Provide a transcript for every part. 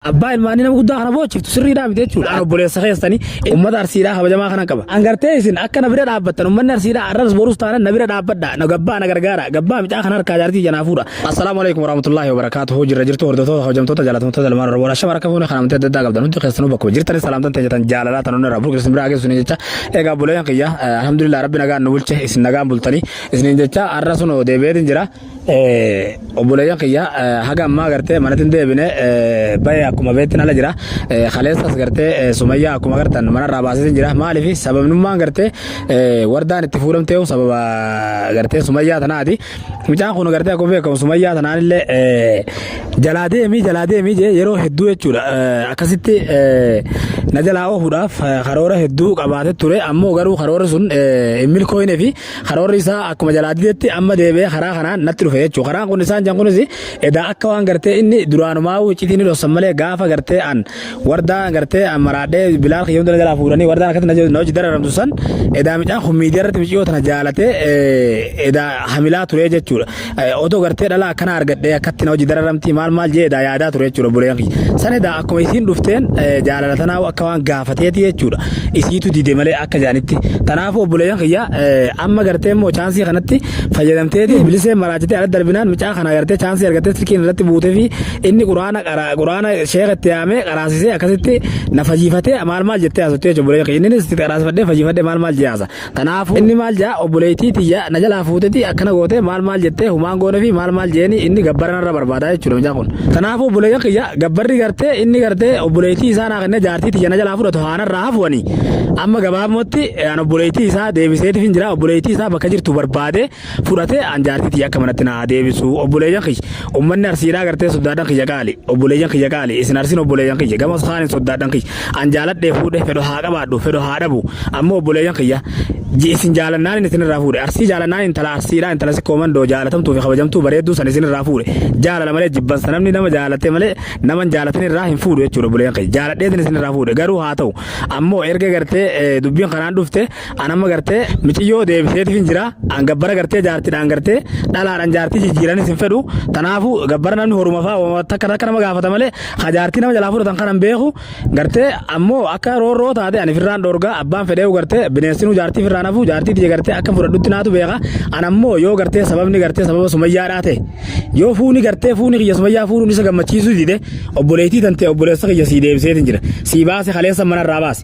Abbaa ilmaanii nama guddaa kana boochiftu sirriidhaa miti jechuudha. An obboleessa keessanii uummata arsiidhaa kabajamaa kanan qaba. An gartee isin akka na bira dhaabbattan uummanni arsiidhaa arras borus taanan na bira dhaabbadha. Na gabbaa na gargaara. Gabbaa micaa kan harkaa jaartii janaa fuudha. Assalaamu alaikum warahmatullahi wabarakaatuhu jirra jirtu hordoftoota hojjamtoota jaalatamtoota ilmaan oromoo ashama rakka fuune kan amantii adda addaa qabdan hundi keessanuu bakkuma jirtanii salaamtan ta'e jetan jaalalaa tan onnee rabbuu keessan biraa geessuun jecha egaa buleen kiyya alhamdulillah rabbi nagaan nu bulche isin nagaan bultanii isiniin jecha arra sun deebi'eetiin jira obboleeyyan kiyya haga ammaa gartee manatti hin deebine bayee akkuma beektin ala jira kaleessas gartee sumayyaa akkuma gartan manarraa baasee jira maaliif sababnummaan gartee wardaan itti fuudhamtee sababa gartee sumayyaa tanaati mucaan kun gartee akkuma beekamu sumayyaa tanaanillee jalaa deemii jalaa deemii jee yeroo hedduu jechuudha akkasitti na jalaa oofuudhaaf karoora hedduu qabaatee ture ammoo garuu karoora sun hin milkooyne fi Karoorri isaa akkuma jalaa didetti amma deebi'ee karaa kanaan natti dhufe jechuudha. Karaan kun isaan jan kunis edaa akka waan gartee inni duraanumaa iccitii ni dhossan malee gaafa gartee an wardaa gartee an maraadhee bilaal kiyya hunda jalaa fuudhanii wardaan akkatti na na hojii dararamtu san edaa midhaan kun miidiyaa irratti miciyoo tana jaalatee edaa hamilaa turee jechuudha. Odoo gartee dhalaa akkanaa argadhee akkatti na hojii dararamtii maal maal jeedaa yaadaa ture jechuudha buleen kiyya. Sanedaa akkuma isiin dhufteen jaalala tanaa akka waan gaafateeti jechuudha. Isiitu dide malee akka jaanitti. Tanaafuu obboleeyyan kiyya amma gartee immoo chaansii kanatti fayyadamteeti bilisee maraachitee ala darbinaan micaa kana gartee chaansii argattee silkiin irratti buutee fi inni quraana quraana sheeka itti yaamee qaraasisee akkasitti na fayyifatee maal maal jettee haasofte jechuudha bulee inni itti qaraasifadhee fayyifadhee maal maal jee haasa Kanaafuu inni maal ja'a obboleeytii tiyya na jalaa fuutetii akkana gootee maal maal jettee humaan goonefii maal maal je'eenii inni gabbara narra barbaadaa jechuudha mucaan kun. Kanaafuu obboleeyyan kiyya gabbarri gartee inni gartee obboleeytii isaa naa kennee jaartii tiyya na jalaa fudhatu haa narraa hafu ani amma gabaabumatti an obboleeytii isaa deebiseetifin jira obboleeytii isaa bakka jirtu barbaadee fudhatee aan jaartii tiyya akka manatti na haa deebisu obboleeyyan kiyya ummanni arsiidhaa gartee soddaadhan kiyya qaali obboleeyyan kiyya qaali isin arsin obboleeyyan kiyya gamas kaanin soddaadhan kiyya aan jaaladhee fuudhe fedho haa qabaadhu fedho haa dhabu ammoo obboleeyyan kiyya ji isin jaalannaanin isin irraa fuudhe arsii jaalannaan intala arsiidhaa intala sikkoo mandoo jaalatamtuu fi kabajamtuu bareedduu san isin irraa fuudhe jaalala malee jibbansa namni nama jaalatee malee naman jaalatin irraa hin fuudhu jechuudha obboleeyyan kiyya jaaladheetin isin irraa fuudhe garuu haa ta'u ammoo erga gartee dubbiin kanaan dhufte An amma gartee miciyyoo deebiseetif hin jira. An gabbara gartee jaartidhaan gartee dhalaadhaan jaartii jijjiiranis hin fedhu. Kanaafuu gabbara namni horuma fa'aa takka takka nama gaafata malee ka jaartii nama jalaa fudhatan kanan beeku gartee ammoo akka roorroo taate ani firraan dhoorgaa abbaan fedheewu gartee bineensinuu jaartii firraan hafu jaartii tiyya gartee akka fudhadhutti naatu beeka. An ammoo yoo gartee sababni gartee sababa sumayyaa dhaate yoo fuuni gartee fuuni kiyya sumayyaa fuudhuun isa gammachiisuu dide obboleettii tantee obboleessa kiyya sii deebiseetin jira. Sii baase kaleessa manarraa baase.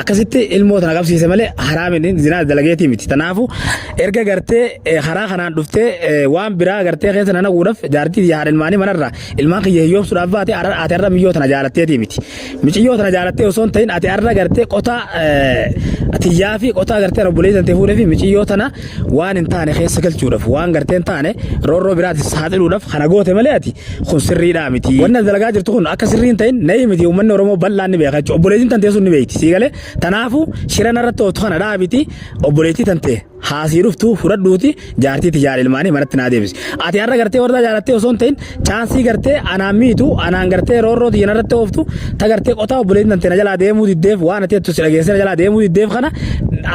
akkasitti ilmoo tana qabsiise malee haraamiin zinaa dalageetii miti. Tanaafu erga gartee karaa kanaan dhuftee waan biraa gartee keessa nana guudhaf jaartii yahaan ilmaanii manarra ilmaan kiyya hiyyoomsuudhaaf baate ati arra miyyoo tana jaalatteetii miti. Miciyyoo tana jaalattee osoo hin ta'in ati arra gartee qotaa tiyyaa fi qotaa gartee obboleessan ta'e fuudhee fi miciyyoo tana waan hin taane keessa galchuudhaaf waan gartee hin taane roorroo biraatiif saaxiluudhaaf kana goote malee ati kun sirriidhaa miti. Wanna dalagaa jirtu kun akka sirrii hin ta'in na'ii miti uummanni Oromoo bal'aan ni beeka jechuudha. Obboleettiin tantee sun ni beekti sii galee tanaafuu shira narratti ooftu kana dhaabiti obboleettii tantee haasii dhuftu fudhadhuuti jaartiiti jaal ilmaanii manatti naa deebisi. Ati har'a gartee wardaa jaalattee osoo hin ta'in chaansii gartee anaan miitu anaan gartee roorroo tiyya narratti ooftu ta gartee qotaa obboleettiin tante na jalaa deemuu diddeef waan ati jettu si dhageessee na jalaa deemuu diddeef kana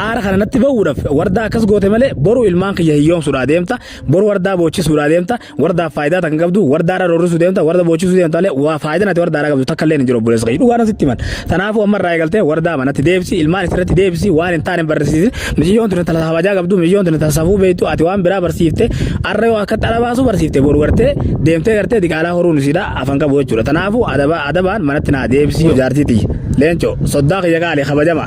aara kana natti ba'uudhaaf wardaa akkas goote malee boru ilmaan kiyya hiyyoomsuudhaa deemta boru wardaa boochisuudhaa deemta wardaaf faayidaa tan qabdu wardaadha roorrisuu deemta warda boochisuu deemta malee waa faayidaan ati wardaadha qabdu takka illee hin jiru obboleessa kiyya dhugaa nasitti himan kanaafuu amma irraa eegaltee wardaa manatti deebisi ilmaan isirratti deebisi waan hin taane hin barreessisin Miciyyoon tuni tana kabajaa qabdu, miciyyoon tuni tana safuu beektu, ati waan biraa barsiifte, arra yoo akka xara baasuu barsiifte, boru gartee deemtee gartee diqaalaa horuun isiidha afan qabu jechuudha. Tanaafuu adaba adabaan manatti naa deebisi yoo jaartii tiyya. Leencoo, soddaa kiyya qaali kabajama.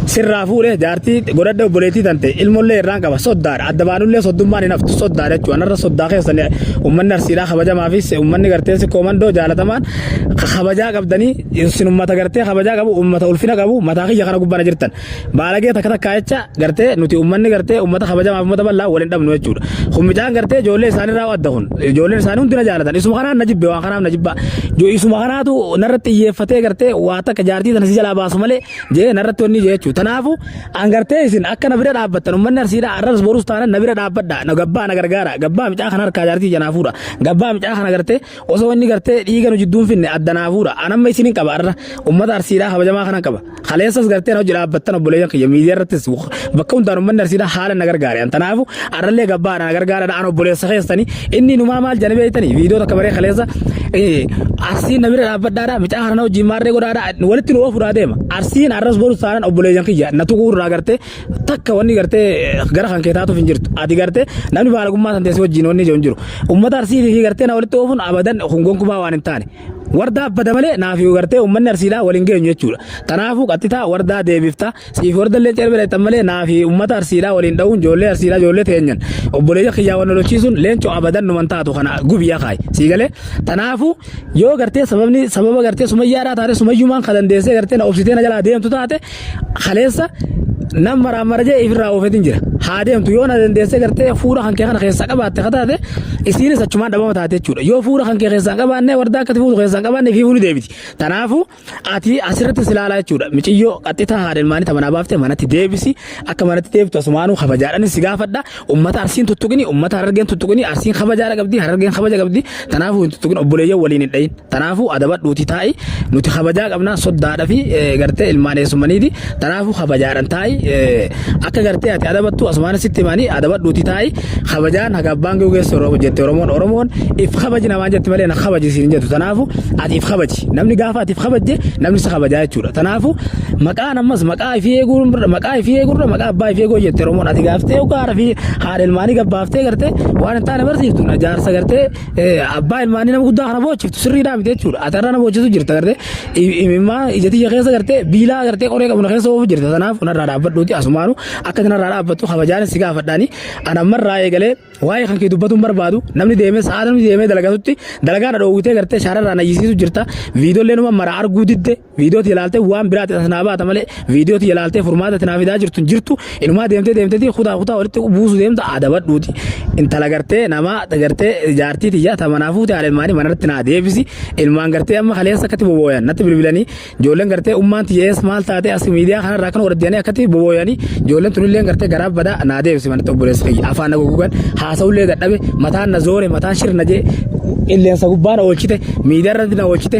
Sirraa fuudhe jaartii godhadhe obboleettii tante ilmollee irraan qaba soddaadha. Adda baanullee soddummaan hin haftu soddaadha jechuudha. Anarra soddaa keessan uummanni arsiidhaa kabajamaa fi uummanni gartee sikkoo mandoo jaalatamaan kabajaa qabdanii isin uummata gartee kabajaa qabu uummata ulfina qabu mataa kiyya kana gubbana jirtan. Baalagee takka takkaa jecha gartee nuti uummanni gartee uummata kabajamaaf uummata bal'aa waliin dhabnu jechuudha. Kun mucaan gartee ijoollee isaaniirraa adda kun ijoolleen isaanii hundi na jaalatan isuma kanaan na jibbe waan kanaaf na jibba isuma kanaatu narratti xiyyeeffatee gartee waa takka jaartii tana si jalaa baasu malee jee narratti wanni jee jechuudha. Tanaafu an gartee isin akka na bira dhaabbattan uummanni arsiidhaa arras borus taanan na bira dhaabbadha na gabbaa na gargaara gabbaa mucaa kana harkaa jaartii janaa fuudha gabbaa mucaa kana gartee Osoo inni gartee dhiiga nu jidduun finne adda naa fuudha. An amma isinin qaba arra ummata arsiidhaa kabajamaa kanan qaba. Kaleessas gartee na hojii dhaabbattan obboleeyyan kiyya miidiyaa irrattis bakka hundaan ummanni arsiidhaa haala na gargaare. An tanaafu arrallee gabbaa na gargaaradha an obboleessa keessani inni numaa maal jani beeytani viidiyoo takka baree kaleessa eh, arsiin na bira dhaabbadhaadha micaa kana na hojii maarree godhaadha walitti nu oofudhaa deema. Arsiin arras boru saanan obboleeyyan kiyya na tuquu irraa gartee takka wanni gartee gara kan kee taatuuf hin jirtu ati gartee namni baalagummaa san teessee wajjin wanni hin jiru ummata arsii fi gartee na walitti oofuun abadan kun gonkumaa waan hin taane wardaa abbada malee naaf yoo gartee ummanni arsiidhaa waliin geenyu jechuudha tanaafuu qaxxitaa wardaa deebifta siif warda illee cerbee dheettan malee naaf ummata arsiidhaa waliin dha'uun ijoollee arsiidhaa ijoollee teenyan obboleeyya kiyyaa wal lolchiisuun leencoo abadan numan taatu kana gubiyaa kaayi sii galee tanaafuu yoo gartee sababni sababa gartee sumayyaadhaa taate sumayyumaan kan dandeessee gartee na obsitee na jalaa deemtu taate Kaleessa nam maraamara jee ifirraa oofetin jira. Haa deemtu yoo na dandeessee gartee fuula kan kee kana keessaa qabaatte akka taate isiinis achumaan dhabama taate jechuudha. Yoo fuula kan kee keessaa hin qabaanne wardaa akkati fuutu keessaa hin qabaanne fiifuu ni deebiti. Kanaafuu ati asirratti silaalaa jechuudha. Miciyyoo qaxxitaa haadha ilmaanii tamanaa baaftee manatti deebisi akka manatti deebtu asumaanuu kabajaadhanis si gaafadha. Ummata Arsiin tuttuqini, ummata Harargeen tuttuqini, Arsiin kabajaadha qabdi, Harargeen kabaja qabdi. Tanaafuu hin tuttuqin obboleeyyan waliin hin dhayin. Tanaafuu adabadhuuti taa'i. Nuti kabajaa qabna soddaadha fi gartee ilmaan eessummaniiti. Tanaafuu kabajaadhan taa'i. Akka gartee ati adabattu asumaan sitti himani adabadhuuti taa'i. Kabajaan haga abbaan ga'u geessu Oromoo jette Oromoon Oromoon if kabaji namaan jette malee na kabaji siin hin jettu. Tanaafuu ati if kabaji. Namni gaafa ati if kabajje namni si kabajaa jechuudha. Tanaafuu Maqaan ammas maqaa ifii eeguu maqaa ifii eegurra maqaa abbaa ifii eeguu jette Oromoon ati gaaftee yookaan haadha fi haadha ilmaanii gabbaaftee gartee waan hin taane barsiiftu na jaarsa gartee eh, abbaa ilmaanii nama guddaa kana boochiftu sirriidhaa miti jechuudha ati irra na boochisu jirta gartee I- imimmaa ija tiyya keessa gartee biilaa gartee qoree qabna keessa oofu jirta kanaaf narraa dhaabbadhuuti asumaanu akka narraa dhaabbattu kabajaan si gaafadhaani ana ammarraa eegalee waa'ee kan kee dubbatuun barbaadu namni deemee sa'a namni deemee dalagatutti dalagaa na dhoowwitee gartee shaararraa na hiisisu jirta viidiyoolee numa mara arguu didde Viidiyoo tiyya laaltee waan biraatti as naa baata malee viidiyoo tiyya laaltee furmaata itti naa fidaa jirtu hin jirtu inumaa deemtee deemteetii kutaa kutaa walitti buusu deemta adabadhuuti intala gartee namaa gartee jaartii tiyya ta manaa fuute haala ilmaanii manarratti naa deebisi ilmaan gartee amma kaleessa akkatti bobooyan natti bilbilanii ijoolleen gartee ummaan tiyya ees maal taatee as miidiyaa kanarraa kan waraddiyanii akkatti bobooyanii ijoolleen tunillee gartee garaa badaa naa deebisi manatti obboleessa kiyya afaan na gugugan haasa'ullee dadhabe mataan na zoore mataan shirna jee qilleensa gubbaa na oolchite miidiyaa irratti na oolchite